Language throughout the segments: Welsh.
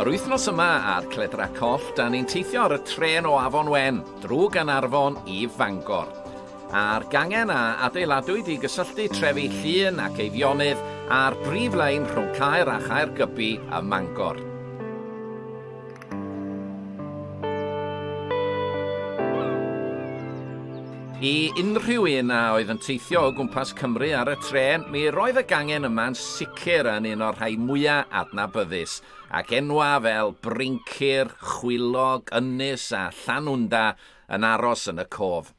Yr wythnos yma ar Cledra Coll, da ni'n teithio ar y tren o Afon Wen, drwy Gaernarfon i Fangor. A'r gangen a adeiladwyd i gysylltu trefi Llŷn ac Eifionydd a'r brif lein rhwng Caer a Chaergybi ym Mangor. I unrhyw un a oedd yn teithio o gwmpas Cymru ar y trên, mi roedd y gangen yma'n sicr yn un o'r rhai mwya adnabyddus, ac enwa fel Brincir, Chwilog, Ynys a Llanwnda yn aros yn y cof.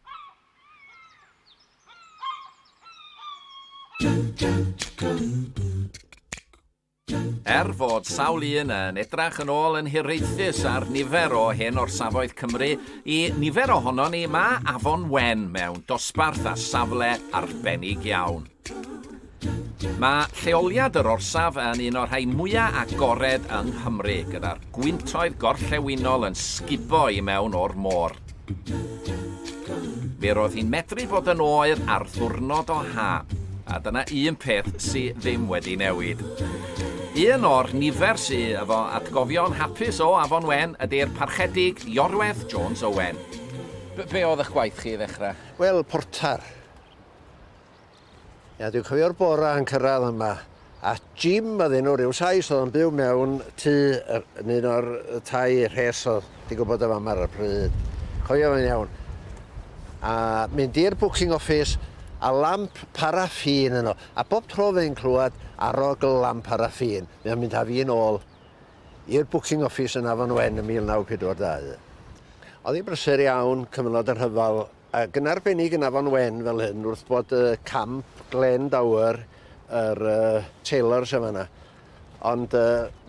Dun, dun, dun, dun, dun. Er fod sawl un yn edrach yn ôl yn hiraethus ar nifer o hen orsafoedd Cymru, i nifer ohonon ni mae Afon Wen mewn dosbarth a safle arbennig iawn. Mae lleoliad yr orsaf yn un o'r rhai mwyaf agored yng Nghymru, gyda'r gwyntoedd gorllewinol yn sgubo i mewn o'r môr. Mi roedd hi'n medru fod yn oer ar ddwrnod o ha, a dyna un peth sy ddim wedi newid. Un o'r nifer sy efo atgofion hapus o Afon Wen ydy'r Parchedig Iorwerth Jones Owen. Be oedd eich gwaith chi i ddechrau? Wel, portar. Ia, dwi'n cofio'r bora yn cyrraedd yma, a Jim oedd enw ryw Sais oedd yn byw mewn tŷ yn un o'r tai rhes oedd di gwybod y fam ar y pryd. Cofio fe'n iawn. A mynd i'r booking office a lamp paraffin yno. A bob tro fe'n clywed arog y lamp paraffin, mae'n mynd â fi'n ôl i'r booking office yn Afon Wen yn 1942. Oedd hi'n brysur iawn, cyfnod y rhyfel, Ac yn arbennig yn Afon Wen fel hyn wrth bod y camp Glen Dower yr Taylors yn fan'na. Ond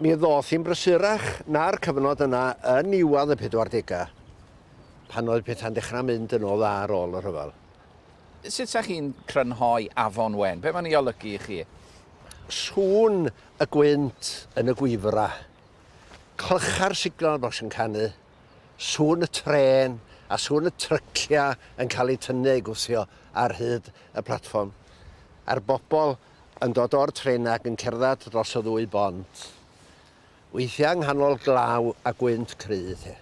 mi ddoth hi'n brysurach na'r cyfnod yna yn niwedd y pedwardegau pan oedd pethau'n dechrau mynd yn ôl dda ar ôl y rhyfel. Sut 'sa chi'n crynhoi Afon Wen? Be mae'n ei olygu i chi? Sŵn y gwynt yn y gwifra, clycha'r signal bocs yn canu. sŵn y trên a sŵn y tryciau yn cael eu tynnu a'u gwthio ar hyd y platfform, a'r bobl yn dod o'r trenau ac yn cerdded dros y ddwy bont, weithiau yng nghanol glaw a gwynt cry te.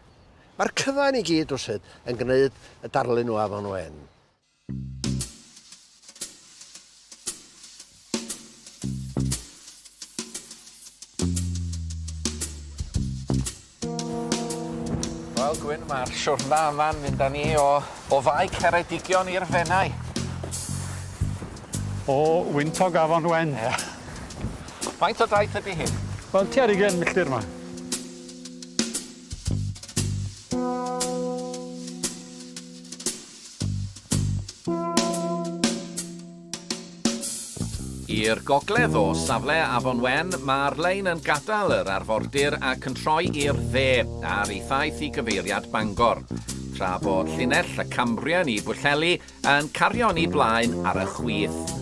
Mae'r cyfan i gyd rywsut yn gwneud y darlun o afon wen. Wel Gwyn ma'r siwrna yma'n mynd â ni o o Fae Ceredigion i'r Fenai. O wyntog afon Wen. Ia. Faint o daith ydi hyn? Wel tua ar ugen milltir 'ma. I'r gogledd o safle Afon Wen, mae'r lein yn gadael yr arfordir ac yn troi i'r dde ar ei thaith i gyfeiriad Bangor, tra bod llinell y Cambrian i Bwllheli yn cario'n ei blaen ar y chwith.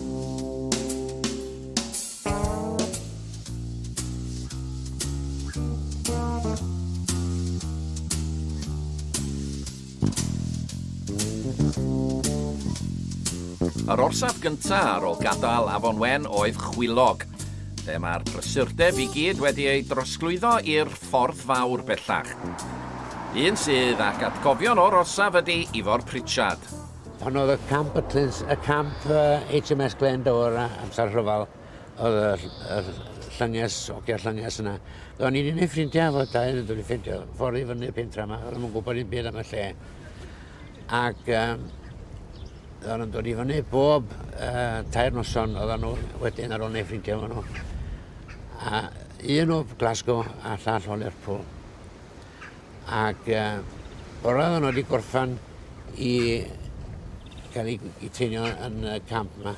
Yr orsaf gynta ar ol gadael Afon Wen oedd Chwilog, lle mae'r brysurdeb i gyd wedi ei drosglwyddo i'r Ffordd Fawr bellach. Un sydd ac atgofion o'r orsaf ydy Ifor Pritchard. Honnodd y camp y Cluns y camp HMS Glendower amser rhyfel. oedd y, y llynges, ogia llynges yna. Do'n i'n un ei ffrindiau fod dau yn dod i ffeindio ffordd i fyny'r pentra yma, oedd nhw'n gwybod i'n byd am y lle. Ac um, oedd nhw'n dod i fyny bob uh, tair noson oedd nhw wedyn ar ôl ei ffrindiau fo nhw. A un o Glasgow a llall o Lerpwl. Ac bore oedd nhw wedi gorffan i cael eu i teinio yn y camp yma.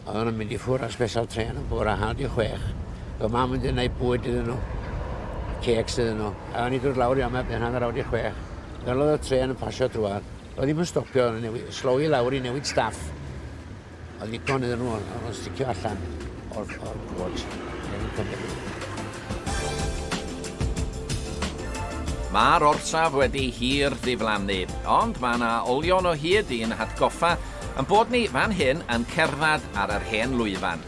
Oedden nhw'n mynd i ffwr ar special train yn bore hanner di chwech. Fy mam wedi gwneud bwyd iddyn nhw, ceks iddyn nhw. A o'n i dod lawr i yma ben hanner awr di chwech. Fel oedd y tren yn pasio drwad, oedd ddim yn stopio, slowy lawr i newid staff. Oedd ddigon iddyn nhw o'n nhw'n sticio allan o'r, or gwod. Mae'r orsaf wedi hir ddiflannu, ond mae yna olion o hyd i'n hatgoffa yn bod ni fan hyn yn cerdded ar yr hen lwyfan.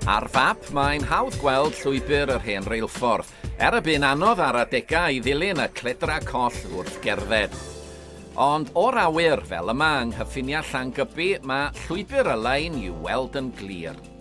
Ar fap, mae'n hawdd gweld llwybr yr hen reilffordd, er y bu'n anodd ar adegau i ddilyn y cledra coll wrth gerdded. Ond o'r awyr, fel yma yng nghyffiniau Llangybi, mae llwybr y lein i'w weld yn glir.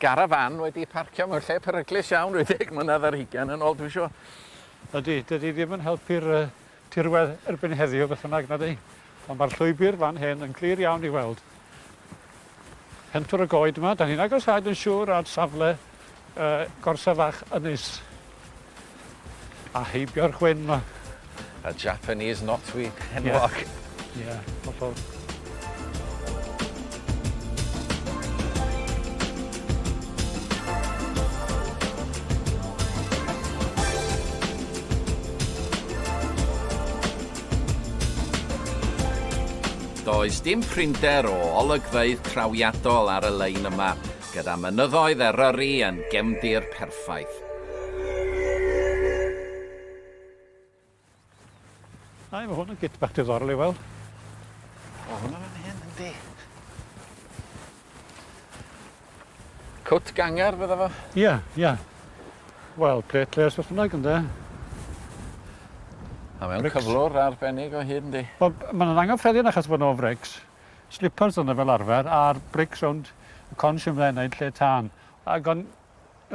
garafan wedi parcio mewn lle peryglus iawn ryw ddeg mlynedd ar hugain yn ôl dwi'n siŵr. Ydy, dydy ddim yn helpu'r tirwedd erbyn heddiw beth bynnag nadi? Ond mae'r llwybr fan hyn yn glir iawn i weld. Pentwr y goed yma, dan ni'n agosáu dwi'n siŵr at safle yy gorsaf fach ynys. A heibio'r chwyn 'ma. A Japanese knotweed enwog. Ie, ie, hollol. Does dim prinder o olygfeydd trawiadol ar y lein yma, gyda mynyddoedd Eryri yn gefndir perffaith. Ai, mae hwn yn git bach diddorol i weld. O, hwnna fan hyn, yndi. Cwt ganger, bydda fo? Ie, yeah, ie. Yeah. Wel, plet les beth bynnag, ynddo. A mewn cyflwr arbennig o hyd, yndi. Mae'n angyffredin achos bod nhw'n frics. Slipars oedd 'na fel arfer a'r brics rownd y con siwmne yna yn lle tân. Ac o'n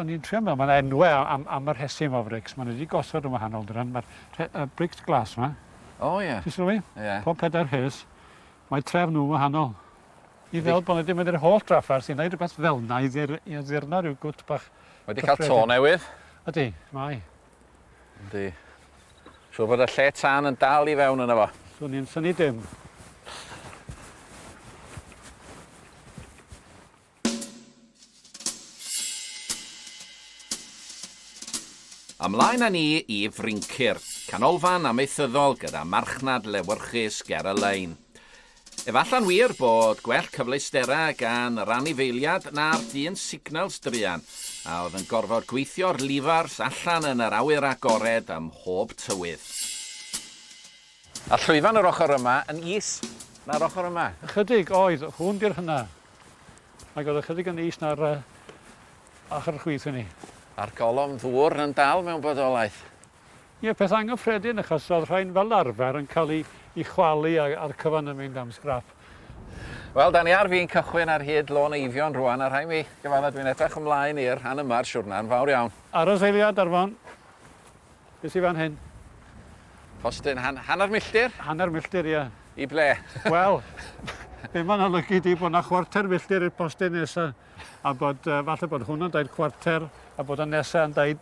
o'n i'n trio meddwl, mae'n enwe am am y rhesym o frics, maen nhw wedi gosod yn wahanol dyddiau, mae'r rhe- y brics glas yma. O ie. Ti'n sylwi? Ie. Pob pedair rhes, mae trefn nhw'n wahanol. I fel bod nhw wedi mynd i'r holl drafferth i wneud rhywbeth fel yna i ddir- i addurno rhyw gwt bach... Wedi cael to newydd. Ydy, mae. Yndi. Siŵr bod y lle tân yn dal i fewn yna fo. Swn i'n syni dim. Ymlaen â ni i Fryncir, canolfan amaethyddol gyda marchnad lewyrchus ger y lein. Efallai'n wir bod gwell cyfleusterau gan yr anifeiliad na'r dyn signals druan a oedd yn gorfod gweithio'r lifars allan yn yr awyr agored ym mhob tywydd. A llwyfan yr ochr yma yn is na'r ochr yma. Ychydig oedd hwn ger hynna, ac oedd ychydig yn is na'r ochr chwith hynny. A'r golofn ddŵr yn dal mewn bodolaeth. Ie, peth anghyffredin achos oedd rhain fel arfer yn cael i chwalu a'r cyfan yn mynd am sgrap. Wel, da ni ar fin cychwyn ar hyd Lôn Eifion rwan a rhaid mi gyfadda dwi'n edrych ymlaen i'r rhan yma o'r siwrna yn fawr iawn. Aros eiliad Arfon. Be sy fan hyn? Postyn han hanner milltir? Hanner milltir, ie. I ble? Wel, be mae'n olygu di bod yna chwarter milltir i'r postyn nesa a bod uh, falle bod hwn yn daid chwarter a bod y nesa yn daid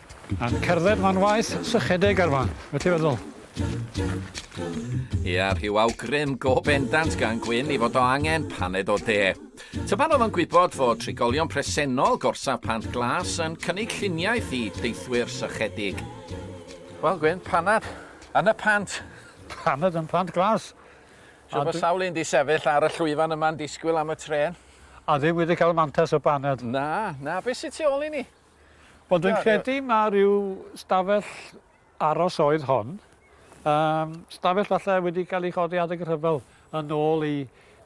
A'n cerdded ma'n waeth sychedeg ar fan, be ti'n feddwl? Ia, rhyw awgrym go bendant gan Gwyn i fod o angen paned o de. Tyban oedd o'n gwybod fod trigolion presennol gorsaf Pant Glas yn cynnig lluniaeth i deithwyr sychedig. Wel Gwyn, paned yn y pant! Paned yn Pant Glas! Siŵr bod sawl un 'di sefyll ar y llwyfan yma'n disgwyl am y trên. A ddim wedi cael mantais o baned. Na, na, be sy tu ôl i ni? Wel dwi'n credu ma' ryw stafell aros oedd hon. Yym stafell falle wedi cael ei chodi adeg y rhyfel yn ôl i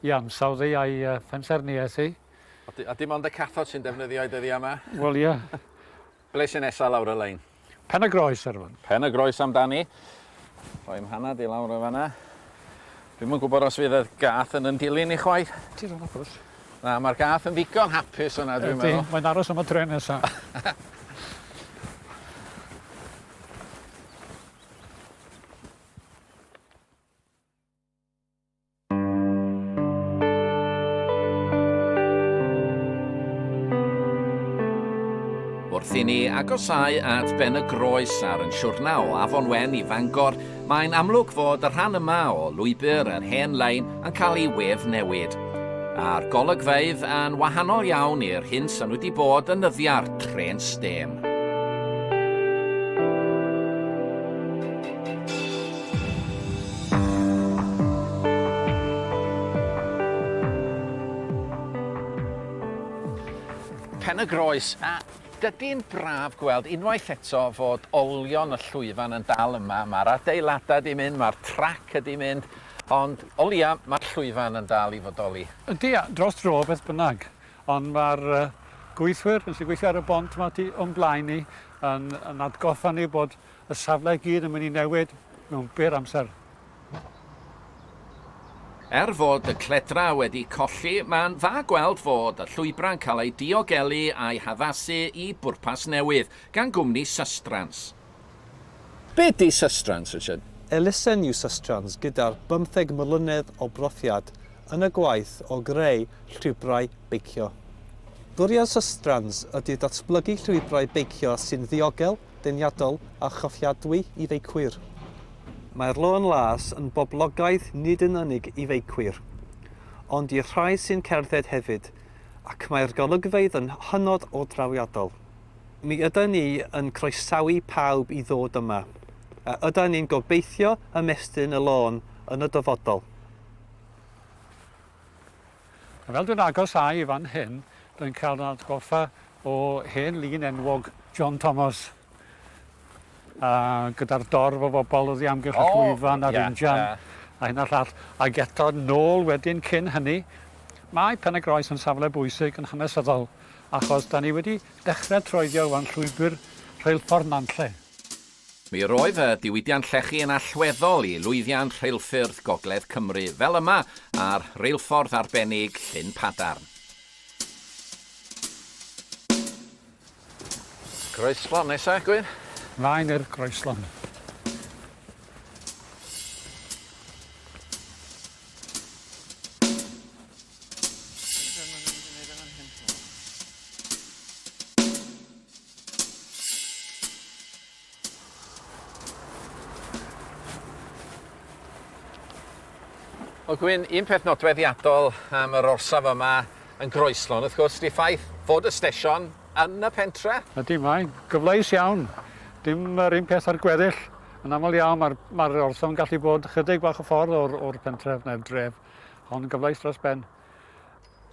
i ansawdd ei a'i uh, phensaerniaeth ei. A, di, a dim ond y cathod sy'n defnyddio ei dyddiau yma? Wel ie. Yeah. Ble sy'n nesaf lawr y lein? Pen y Groes ar hwn. Pen y Groes amdani. Rhoi mhanad i lawr o fanna. Dwi'm yn gwybod os fydd y gath yn yn dilyn i chwaith. Ti ddim yn gwybod. Na, mae'r gath yn ddigon hapus yna, dwi'n meddwl. Ydy, mae'n aros am y tren nesa. Wrth i ni agosau at ben y groes ar yn siwrna o Afon Wen i Fangor, Mae'n amlwg fod y rhan yma o lwybr yr hen lein yn cael ei wef newid, a'r golygfeydd yn wahanol iawn i'r hyn sy'n wedi bod yn nyddia'r trên stêm. Pen-y-groes, a Dydi'n braf gweld unwaith eto fod olion y llwyfan yn dal yma, mae'r adeiladau 'di mynd, mae'r trac ydi mynd, ond o leia mae'r llwyfan yn dal i fodoli. Ydi, dros dro beth bynnag, ond mae'r gweithwyr sy'n gweithio ar y bont 'ma tu o'n blaen ni yn yn atgoffa ni bod y safle i gyd yn mynd i newid mewn byr amser. Er fod y cledra wedi colli, mae'n dda gweld fod y llwybrau'n cael eu diogelu a'u haddasu i bwrpas newydd, gan gwmni Sustrans. Be ydy Sustrans, Richard? Elusen yw Sustrans gyda'r bymtheg mlynedd o brofiad yn y gwaith o greu llwybrau beicio. Bwriad Sustrans ydy datblygu llwybrau beicio sy'n ddiogel, deniadol a chofiadwy i feicwyr. Mae'r Lôn Las yn boblogaidd nid yn unig i feicwyr, ond i'r rhai sy'n cerdded hefyd, ac mae'r golygfeydd yn hynod o drawiadol. Mi ydan ni yn croesawu pawb i ddod yma, a ydan ni'n gobeithio ymestyn y lôn yn y dyfodol. A fel dwi'n agos â i fan hyn, rwy'n cael fy atgoffa o hen lun enwog John Thomas, a gyda'r dorf o fobl oddi amgylch y llwyfan a'r injan a hyn a'r llall, ac eto nôl wedyn cyn hynny. Mae Pen-y-groes yn safle bwysig yn hanesyddol, achos 'da ni wedi dechrau troeddio wan llwybr rheilffordd Nantlle. Mi roedd y diwydiant llechi yn allweddol i lwyddiant rheilffyrdd Gogledd Cymru, fel yma ar reilffordd arbennig Llyn Padarn. Groeslon nesa, Gwyn? Mlaen i'r groeslon. Wel Gwyn, un peth nodweddiadol am yr orsaf yma yn Groeslon, wrth gwrs, di ffaith fod y stesion yn y pentre. Ydy, mae'n gyfleus iawn. Dim yr un peth ar gweddill. Yn aml iawn mae'r ma orsaf yn gallu bod chydig bach o ffordd o'r, or pentref neu'r dref. Ond gyfleus dros ben.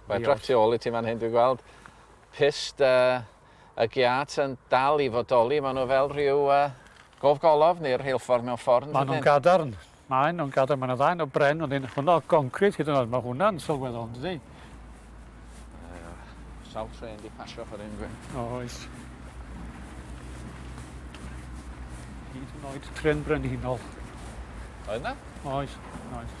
Mae draf tu ôl i ti fan hyn, dwi'n gweld. Pist uh, y giât yn dal i fodoli, maen nhw fel rhyw gofgolofn neu'r rheilffordd mewn ffordd, yn dydyn? Maen nhw'n gadarn. Maen nhw'n gadarn, maen nhw dda, un o bren, ond un hwnnw o goncrit hyd yn oed, mae hwnna'n sylweddol, yn dydi? Ie, sawl trên di pasio ffordd hyn, gwe? O, oes. Hyd yn oed tren brenhinol. Oedd na? Oes, oes.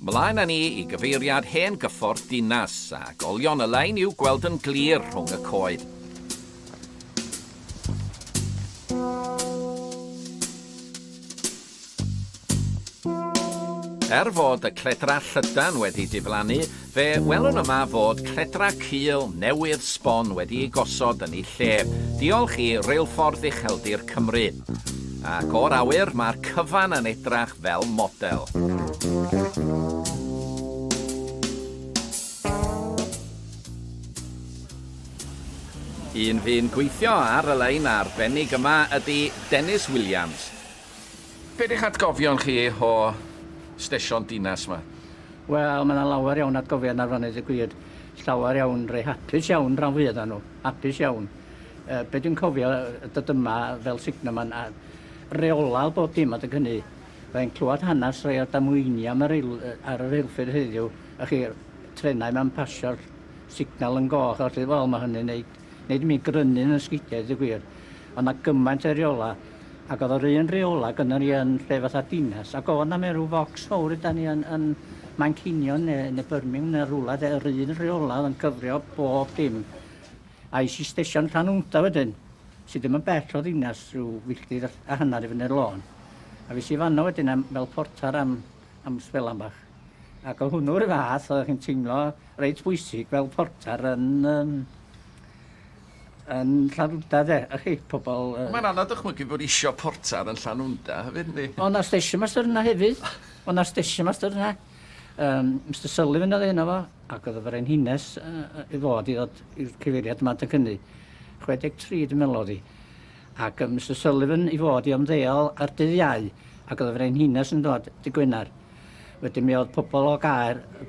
Mlaen â ni i gyfeiriad hen gyffordd dinas, a golion y lein i'w gweld yn glir rhwng y coed. Er fod y cledra llydan wedi diflannu, Fe welwn yma fod cledra cul newydd sbon wedi ei gosod yn ei lle, diolch i Reilffordd Ucheldir Cymru. Ac o'r awyr, mae'r cyfan yn edrach fel model. Un fu'n gweithio ar y lein arbennig yma ydi Dennis Williams, Be di'ch atgofion chi o stesion dinas ma? Wel, mae 'na lawer iawn atgofion ar fanu deu gwir. Llawer iawn rei hapus iawn ran fwya o'na nhw. Hapus iawn. Yy be dwi'n cofio yy dod yma fel signalman a reolaidd bob dim adeg hynny. Fydda i'n clywed hanes rhai o'r damweiniau am y reil- yy ar y reilffyrdd heddiw, y'ch chi, trenau 'ma'n pasio'r signal yn goch a ballu. Wel, ma' hynny'n neud Nid mi grynyn yn sgidia i ddweud y gwir. Oedd 'na gymaint o reola, ac oedd yr un reola gynno ni yn lle fatha dinas, ac oedd 'na mewn rhyw focs fawr ydan ni yn, yn Manceinion neu, neu Birmingham neu rwla de, yr un reola oedd yn cyfrio bob dim. A es i stesion Llanwnda wedyn, sydd ddim yn bell o ddinas, rhyw filltir a hanner i fyny'r lôn. A fes i fanno wedyn am, fel portar am, am sbelan bach. Ac oedd hwnnw 'r un fath, oeddech chi'n teimlo reit bwysig fel portar yn yym yn Llanwnda de, y'ch chi, pobol yy... Mae'n anodd dychmygu bod isio portar yn Llanwnda hefyd yndi? O' 'na station master yna hefyd, o' 'na station master yna, yym Mister Sullivan o'dd enw fo, ac o'dd y Frenhines yy yy i fod i ddod i'r cyfeiriad yma adeg hynny, 63 dwi'n meddwl o'dd 'i, ac yy Mister Sullivan i fod i ymddeol ar dydd Iau, ac o'dd y Frenhines yn dod dy' Gwenar. Wedyn mi o'dd pobol o Gaer yy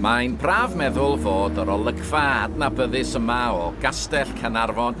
Mae'n braf meddwl fod yr olygfa adnabyddus yma o Gastell Caernarfon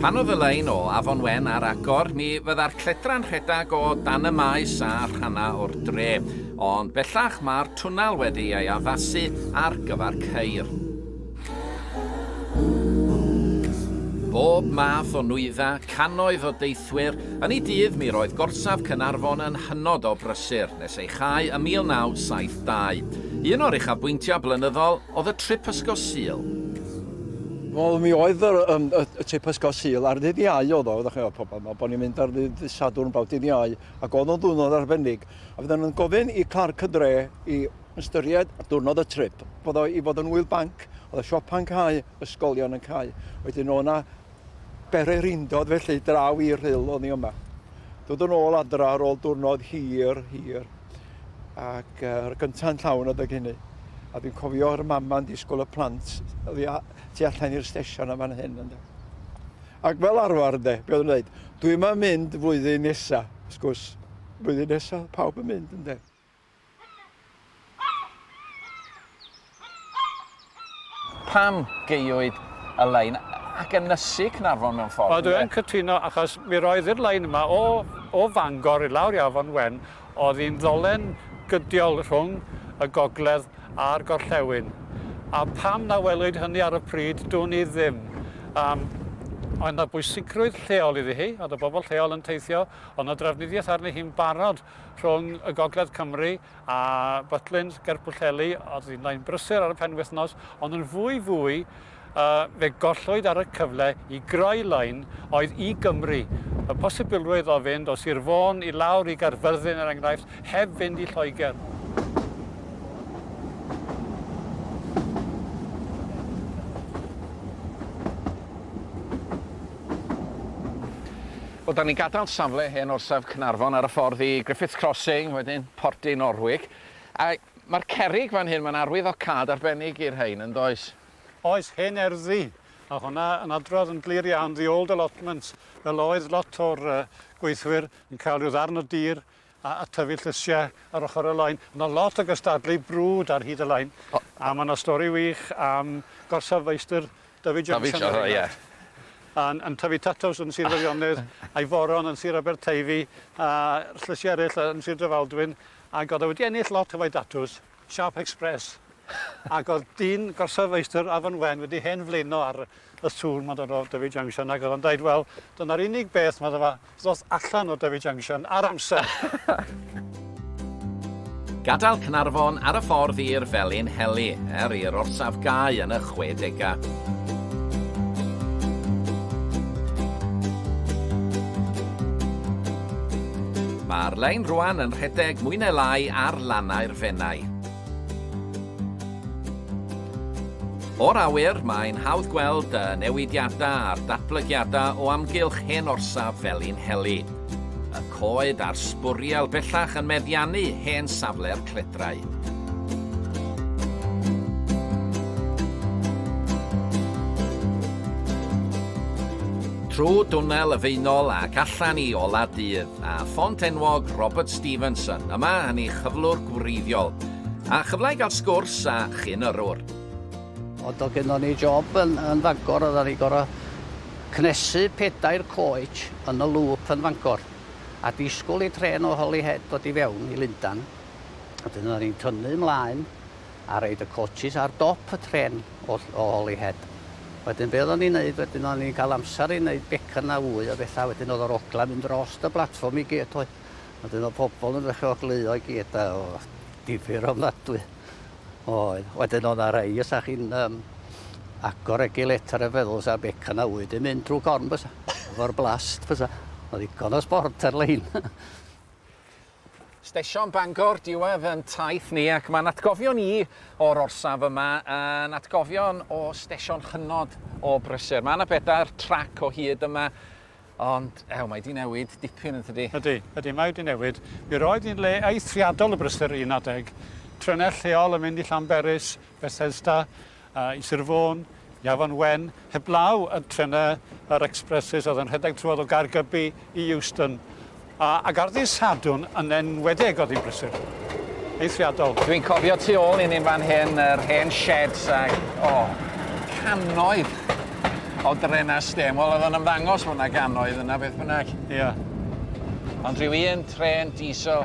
Pan oedd y lein o Afon Wen ar agor, mi fydda'r cledra'n rhedeg o dan y maes a rhannau o'r dre, ond bellach mae'r twnnel wedi ei addasu ar gyfer ceir. Bob math o nwyddau, cannoedd o deithwyr, yn ei dydd mi roedd gorsaf Caernarfon yn hynod o brysur nes ei chau ym 1972. Un o'r uchafbwyntiau blynyddol oedd y trip ysgo Sul. Wel mi oedd yr yym y y trip ysgol Sul ar ddydd Iau oedd o, ddach chi'n gwbod pobol ma' bo' ni'n mynd ar ddydd ddydd Sadwrn bawb dydd Iau ac oedd o'n ddiwrnod arbennig a fydden nhw'n gofyn i Clark y Dre i Ystyried ar ddiwrnod y trip fod o i fod yn ŵyl banc, oedd y siopa'n cau, ysgolion yn cau. Wedyn o' 'na bererindod felly draw i'r Rhyl o'n i yma. Dod yn ôl adra ar ôl diwrnod hir, hir. Ac uh, yr gynta'n llawn adeg hynny. A dwi'n cofio yr mama'n disgwyl y plant oddi a- tu allan i'r stesion am fan hyn ynde. Ac fel arfer ynde, be' oedd yn dweud, dwi yma mynd flwyddyn nesa, wrth gwrs, blwyddyn nesa, pawb yn mynd ynde. Pam gaewyd y lein ac ynysu Caernarfon mewn ffordd, ynde? Ydw, yn cytuno, achos mi roedd i'r lein yma o o Fangor i lawr i Afon Wen oedd hi'n ddolen gydiol rhwng y gogledd a'r gorllewin. A pam na welwyd hynny ar y pryd, dwn i ddim. Yym, oedd 'na bwysigrwydd lleol iddi hi, oedd y bobl lleol yn teithio, oedd 'na drafnidiaeth arni hi'n barod rhwng y Gogledd Cymru a Butlins ger Pwllheli, oedd hi'n lain brysur ar y penwythnos, ond yn fwy fwy fe gollwyd ar y cyfle i greu lain oedd i Gymru. Y posibilrwydd o fynd o Sir Fôn i lawr i Gaerfyrddin er enghraifft heb fynd i Lloegr. Wel, dan ni'n gadael safle hen orsaf Caernarfon ar y ffordd i Griffiths Crossing, wedyn Pordy Norwig, a mae'r cerrig fan hyn, mae'n arwyddocâd arbennig i'r rhain, yn does? Oes, hen erddi, a hwnna yn adrodd yn glir iawn 'the old allotments', fel oedd lot o'r yy gweithwyr yn cael rhyw ddarn o dir a tyfu llysiau ar ochr y lain. Mae 'na lot o gystadlu brwd ar hyd y lain, a mae 'na stori wych am gorsaf feistr David Johnson... David Johnson, ie. ...yn yn tyfu tatws yn Sir Feirionnydd, a'i foron yn Sir Aberteifi, a llysiau eraill yn Sir Drefaldwyn, ac oedd e wedi ennill lot o fai datws. Siâp Express ac o'dd dyn gorsaf feistr Afon Wen wedi hen flaeno ar y sŵn ma'n dod o Dyfi Junction ac o'dd o'n deud wel dyna'r unig beth medda fa ddoth allan o Dyfi Junction ar amser! Gadael Caernarfon ar y ffordd i'r Felin Heli er i'r orsaf gau yn y chwedegau. Mae'r lein rwan yn rhedeg mwy neu lai ar lannau'r Fenai. O'r awyr, mae'n hawdd gweld y newidiadau a'r datblygiadau o amgylch hen orsaf Felinheli. Y coed a'r sbwriel bellach yn meddiannu hen safle'r cledrau. trwy dwnnel y feinol ac allan i ola dydd, a ffont enwog Robert Stevenson yma yn ei chyflwr gwreiddiol, a chyfle i gael sgwrs a chyn yrwr. O, do gyno ni job yn, yn Fangor, oedd ni gorau cnesu pedair coet yn y lŵp yn Fangor. a disgwyl i trên o Holyhead ddod i fewn i Lundan. Wedyn oedden ni'n tynnu ymlaen a roed y coaches ar dop y trên o, o Holyhead. Wedyn be oedden ni'n neud wedyn oedden ni'n cael amser i neud becan a wy o bethau wedyn oedd yr ogla'n mynd dros y platfform i gyd oedd. Wedyn oedd pobl yn ddechrau ogleuo i gyd a oedd difyr ofnadwy. Oedd. Wedyn oedd 'na rei os 'da chi'n yym agor regiletar a feddwl sa beca 'na fwyd yn mynd drw corn bysa? Efo'r blast bysa? Oedd ddigon o sbort ar lein. Stesion Bangor diwedd yn taith ni ac mae'n atgofion i o'r orsaf yma yn atgofion o stesion hynod o brysur. Mae 'na bedair trac o hyd yma Ond, ew, mae 'di newid dipyn yn tydi? Ydi, ydi, mae 'di newid. Mi roedd hi'n le eithriadol o brysur un adeg. Trenau lleol yn mynd i Llanberis, Bethesda, i Sir Fôn, i Afon Wen, heblaw y trenau, yr expresses oedd yn rhedeg trwodd o Gaergybi i Euston. A garddi Sadwrn yn enwedig oedd hi'n brysur. Eithriadol. Dwi'n cofio tu ôl i ni'n fan hyn yr hen sheds ac o, cannoedd o drena stêm. Wel oedd o'n ymddangos fod yna gannoedd yna beth bynnag. Ia. Ond rhyw un trên diesel